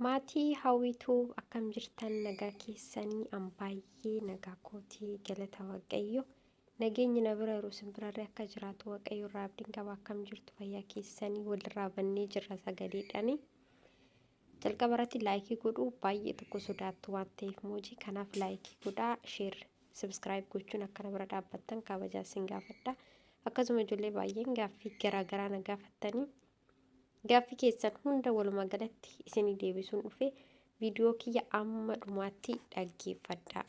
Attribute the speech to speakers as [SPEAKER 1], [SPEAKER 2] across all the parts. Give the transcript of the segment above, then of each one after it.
[SPEAKER 1] Maatii Hawwii Tuub akkam jirtan nagaa keessanii an baay'ee nagaa kootii galata waaqayyo nageenyi na bira yeroo isin birarree akka jiraatu waaqayyo irraa abdiin qaba akkam jirtu fayyaa keessanii walirraa bannee jirra sagaleedhani jalqaba irratti laayikii godhuu baay'ee tokko sodaattu waan ta'eef moojii kanaaf laayikii godhaa sheer sabiskiraayib gochuun akka na bira dhaabbattan kabajaa isin gaafadha akkasuma ijoollee baay'een gaaffii garaagaraa na gaafattanii Gaaffi keessan hunda walumaa galatti isinii deebisuun dhufe viidiyoo kiyya amma dhumaatti dhaggeeffadhaa.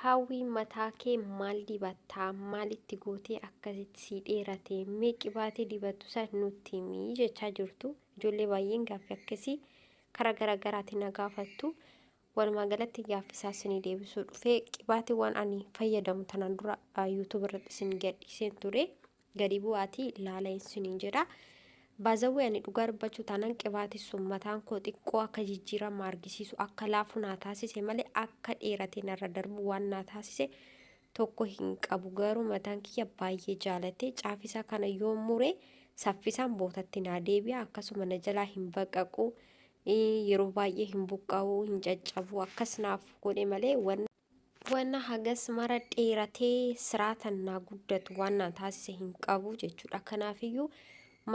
[SPEAKER 1] Hawwii mataa kee maal dibattaa maalitti gootee akkasitti sii dheerate mee qibaatee dibattu san nutti himii jechaa jirtu ijoollee baay'een gaaffi akkasii karaa garaagaraatiin na gaafattu. Walumaa galatti gaaffii isaa isinii deebisuu dhufee qibaatiiwwan ani fayyadamu tanaan dura YouTube irratti isin gadhiiseen ture gadi bu'aatii laala isiniin jedha. Baazawwee ani dhugaa dubbachuu taanaan qibaatii sun mataan koo xiqqoo akka jijjiirama argisiisu akka laafu naa taasise malee akka dheeratee narra darbu waan naa taasise tokko hin qabu garuu mataan kiyya baay'ee jaalate caafisaa kana yoo mure saffisaan bootatti naa deebi'a akkasuma na jalaa hin baqaqu yeroo baay'ee hin buqqa'u hin caccabu akkas naaf godhe malee wanna wanna hagas mara dheeratee siraatan naa guddatu waan naa taasise hin qabu jechuudha kanaafiyyuu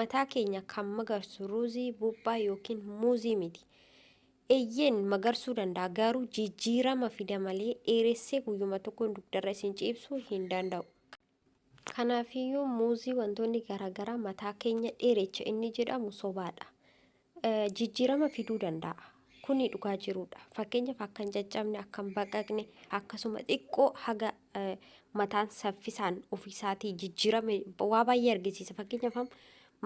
[SPEAKER 1] mataa keenya kan magarsu ruuzii buuphaa yookiin muuzii miti eeyyeen magarsuu danda'a garuu jijjiirama fida malee dheeressee guyyuma tokkoon dugdarra isin ciibsuu hin danda'u Kanaafiyyuu muuzii wantoonni garaagaraa mataa keenya dheerecha inni jedhamu sobaadha. Jijjiirama fiduu danda'a. Kuni dhugaa jiruudha. Fakkeenyaaf akka hin caccabne, akka hin baqaqne, akkasuma xiqqoo haga mataan saffisaan ofiisaatii jijjiirame waa baay'ee argisiisa. Fakkeenyaaf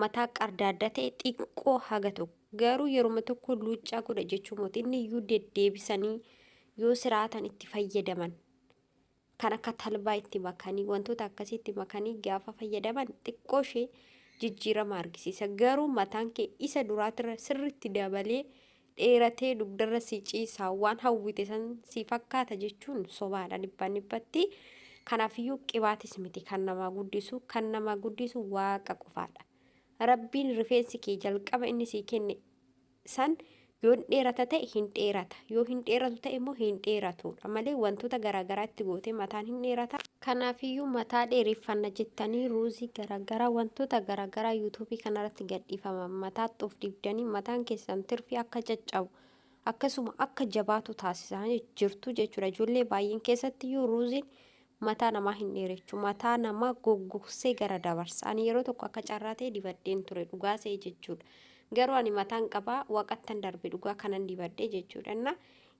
[SPEAKER 1] mataa qardaaddaa ta'e xiqqoo haga tokko. Garuu yeruma tokko luuccaa godha jechuu miti. Inni iyyuu deddeebisanii yoo siraatan itti fayyadaman. kan akka talbaa itti makanii wantoota akkasii itti makanii gaafa fayyadaman xiqqoo ishee jijjiirama argisiisa. Garuu mataan kee isa duraatirra sirriitti dabalee dheeratee dugdarra si ciisaa waan hawwite san si fakkaata jechuun sobaadha dhibbaan dhibbatti. Kanaafiyyuu qibaatis miti kan namaa guddisu kan namaa guddisu waaqa qofaadha. Rabbiin rifeensi kee jalqaba inni sii kenne san yoo hin dheerata ta'e hin dheerata yoo hin dheeratu ta'e immoo hin dheeratuudha malee wantoota garaagaraa itti gootee mataan hin dheerata. Kanaafiyyuu mataa dheereffanna jettanii ruuzii garaagaraa wantoota garaagaraa yuutuubii kanarratti gadhiifaman mataatti of dibdanii mataan keessan tirfii akka caccabu akkasuma akka jabaatu taasisaa jirtu jechuudha. Ijoollee baay'een keessattiyyuu ruuziin Mataa namaa hin dheerechu. Mataa nama goggogsee gara dabarsa. Ani yeroo tokko akka carraa ta'e dibadheen ture. Dhugaa se'e jechuudha. Garuu ani mataan qaba waqattan darbe dhugaa kanan dibadhe jechuudha. Inna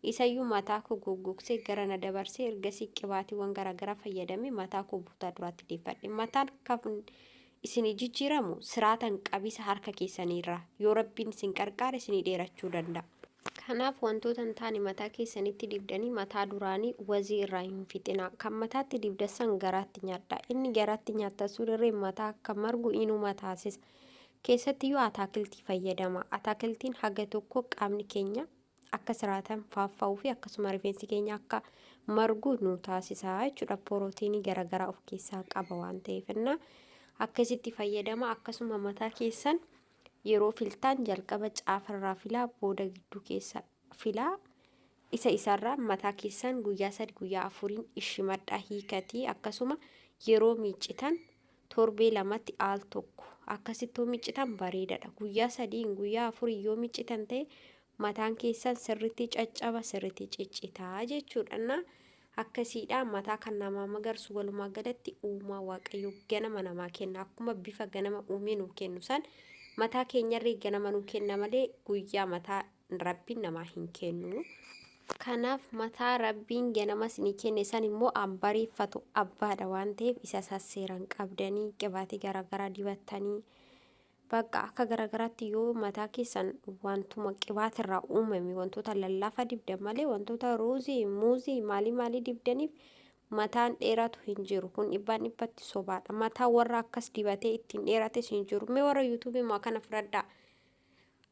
[SPEAKER 1] isayyuu mataa koo goggogsee gara na dabarsee ergasii qibaatiiwwan garaagaraa fayyadamee mataa koo butaa duraatti deeffadhe. Mataan kafn isinii jijjiiramu siraatan qabisa harka keessanii irraa. Yoo Rabbiin isin qarqaare isinii dheerachuu danda'a. Kanaaf wantoota hin taane mataa keessanitti dibdanii mataa duraanii wazii irraa hin fixinaa. Kan mataatti dibdassan garaatti nyaadhaa. Inni garaatti nyaattan sun irreen mataa akka margu inuma taasisa. Keessatti yoo ataakiltii fayyadama. Ataakiltiin haga tokko qaamni keenya akka siraatan faaffa'uu fi akkasuma rifeensi keenya akka margu nu taasisa jechuudha. Porootiinii garaagaraa of keessaa qaba waan ta'eef innaa akkasitti fayyadama akkasuma mataa keessan yeroo filtaan jalqaba caafarraa filaa booda gidduu keessa filaa isa isarraa mataa keessan guyyaa sadi guyyaa afuriin ishimadhaa hiikatii akkasuma yeroo miiccitan torbee lamatti al tokko akkasitti yoo miccitan bareedadha. Guyyaa sadiin guyyaa afuriin yoo miccitan ta'e mataan keessan sirritti caccaba sirritti ciccitaa jechuudhanna akkasiidha mataa kan namaa magarsu walumaa galatti uumaa waaqayyo ganama namaa kenna akkuma bifa ganama uumee nuu kennu san mataa keenyarree ganama nuu kenna malee guyyaa mataa Rabbiin namaa hin kennu. Kanaaf mataa Rabbiin ganama isinii kenne san immoo an bariiffatu abbaadha waan ta'eef isa sasseeran qabdanii qibaatii garaagaraa dibattanii bakka akka garaagaraatti yoo mataa keessan wantuma qibaatirraa uumame wantoota lallaafa dibdan malee wantoota ruuzii, muuzii maalii maalii dibdaniif mataan dheeratu hin jiru. Kun dhibbaan dhibbatti sobaadha. Mataa warra akkas dibatee ittiin dheerates hin jiru. Mee warra yuutuubii maa kana fudhadhaa.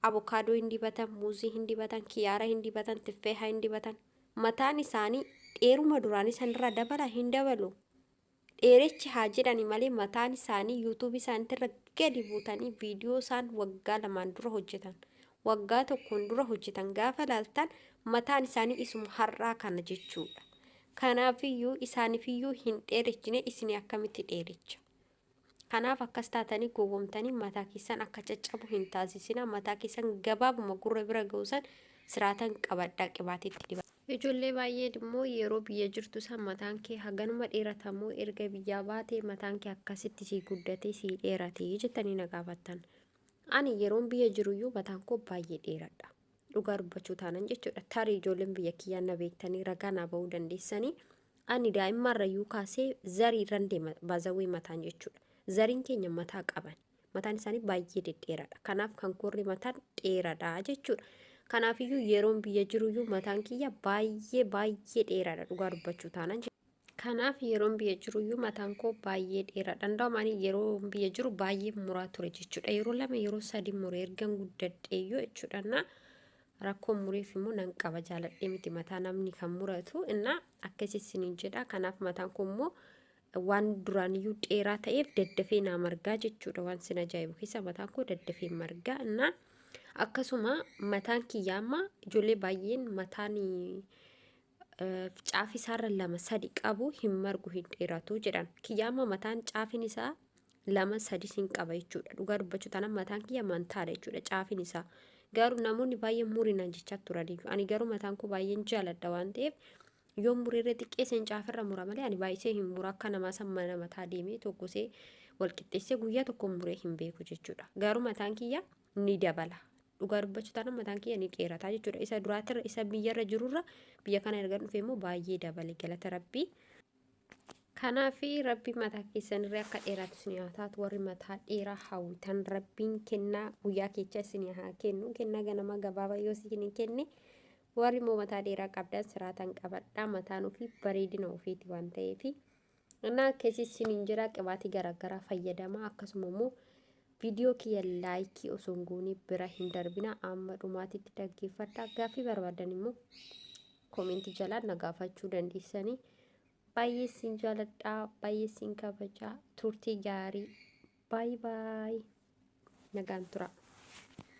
[SPEAKER 1] Avokaadoo hin dibatan, muuzii hin dibatan, kiyaara hin dibatan, tiffeeha hin dibatan. Mataan isaanii dheeruma duraanii sanirraa dabala hin dabalu. Dheerechi haa jedhani malee mataan isaanii yuutuubii isaaniitirra gadi buutanii viidiyoo isaan waggaa lamaan dura hojjetan. Waggaa tokkoon dura hojjetan gaafa laaltan mataan isaanii isuma har'aa kana jechuudha. Kanaafiyyuu isaanifiyyuu hin dheerechine isinii akkamitti dheerecha? Kanaaf akkas taatanii gowwomtanii mataa keessan akka caccabu hin taasisinaa. Mataa keessan gabaabuma gurra bira ga'u san siraatan qabadhaa qibaatii itti dibadhaa. Ijoollee baay'een immoo yeroo biyya jirtu san mataan kee haganuma dheerata moo erga biyyaa baatee mataan kee akkasitti sii guddatee sii dheeratee jettanii na gaafattan. Ani yeroon biyya jiruyyuu mataan koo baay'ee dheeradha. dhugaa dubbachuu taanan jechuudha tarii ijoolleen biyya kiyyaa na beektanii ragaa naa ba'uu dandeessanii ani daa'immaarra yuu kaasee zarii irran deema baazawwee mataan jechuudha zariin keenya mataa qaban mataan isaanii baay'ee dhedheeraadha kanaaf kan koorri mataan dheeraadha jechuudha kanaafiyyuu yeroon biyya jiruyyuu mataan kiyya baay'ee baay'ee dheeraadha dhugaa dubbachuu taanan jechuudha. Kanaaf yeroon biyya jiru iyyuu mataan koo baay'ee dheeraadha. Hundaa'uun ani yeroo biyya jiru baay'ee muraa ture jechuudha. Yeroo lama yeroo sadi mure ergan guddadhee iyyuu jechuudha. Innaa rakkoon mureef immoo nan qaba jaaladhee miti mataa namni kan muratu innaa akkas isiniin jedha. Kanaaf mataan koo immoo waan duraan iyyuu dheeraa ta'eef daddafee naa margaa jechuudha. Waan sin ajaa'ibu keessa mataan koo daddafee margaa innaa akkasuma mataan kiyyaa amma ijoollee baay'een mataan caafi isaarra lama sadi qabu hin margu hin dheeratu jedhan kiyya amma mataan caafin isaa lama sadi sin qaba jechuudha dhugaa dubbachuu tanan mataan kiyya mantaadha jechuudha caafin isaa garuu namoonni baay'ee murinaan jechaa turaniif ani garuu mataan koo baay'een jaaladha waan ta'eef yoo murirra xiqqeesseen caafirra mura malee ani baay'isee hin mura akka namaa san mana mataa deemee tokkosee walqixxeessee guyyaa tokko muree hin beeku jechuudha garuu mataan kiyya ni dabala. Dhugaa dubbachuu taana mataan kiyya ni dheerataa jechuudha. Isa duraatirra isa biyyarra jirurra biyya kana erga dhufee immoo baay'ee dabale galata rabbii. Kanaaf rabbi mataa keessanirree akka dheeraatu isin haa taatu warri mataa dheeraa hawwitan rabbiin kennaa guyyaa keechaa isin haa kennu kennaa ganamaa gabaabaa yoo isin kenne warri immoo mataa dheeraa qabdan siraatan qabadhaa mataan ofii bareedina ofiiti waan ta'eefi. እና akkasii isiniin jira qibaatii garaagaraa fayyadama akkasuma immoo viidiyoo kiyya laayikii osoo hin goone bira hin darbina amma dhumaatitti dhaggeeffadha gaaffii barbaadan immoo koomentii jalaa na gaafachuu dandeessanii baay'ee isin jaaladha baay'ee isin kabaja turtii gaarii baay baay nagaan turaa.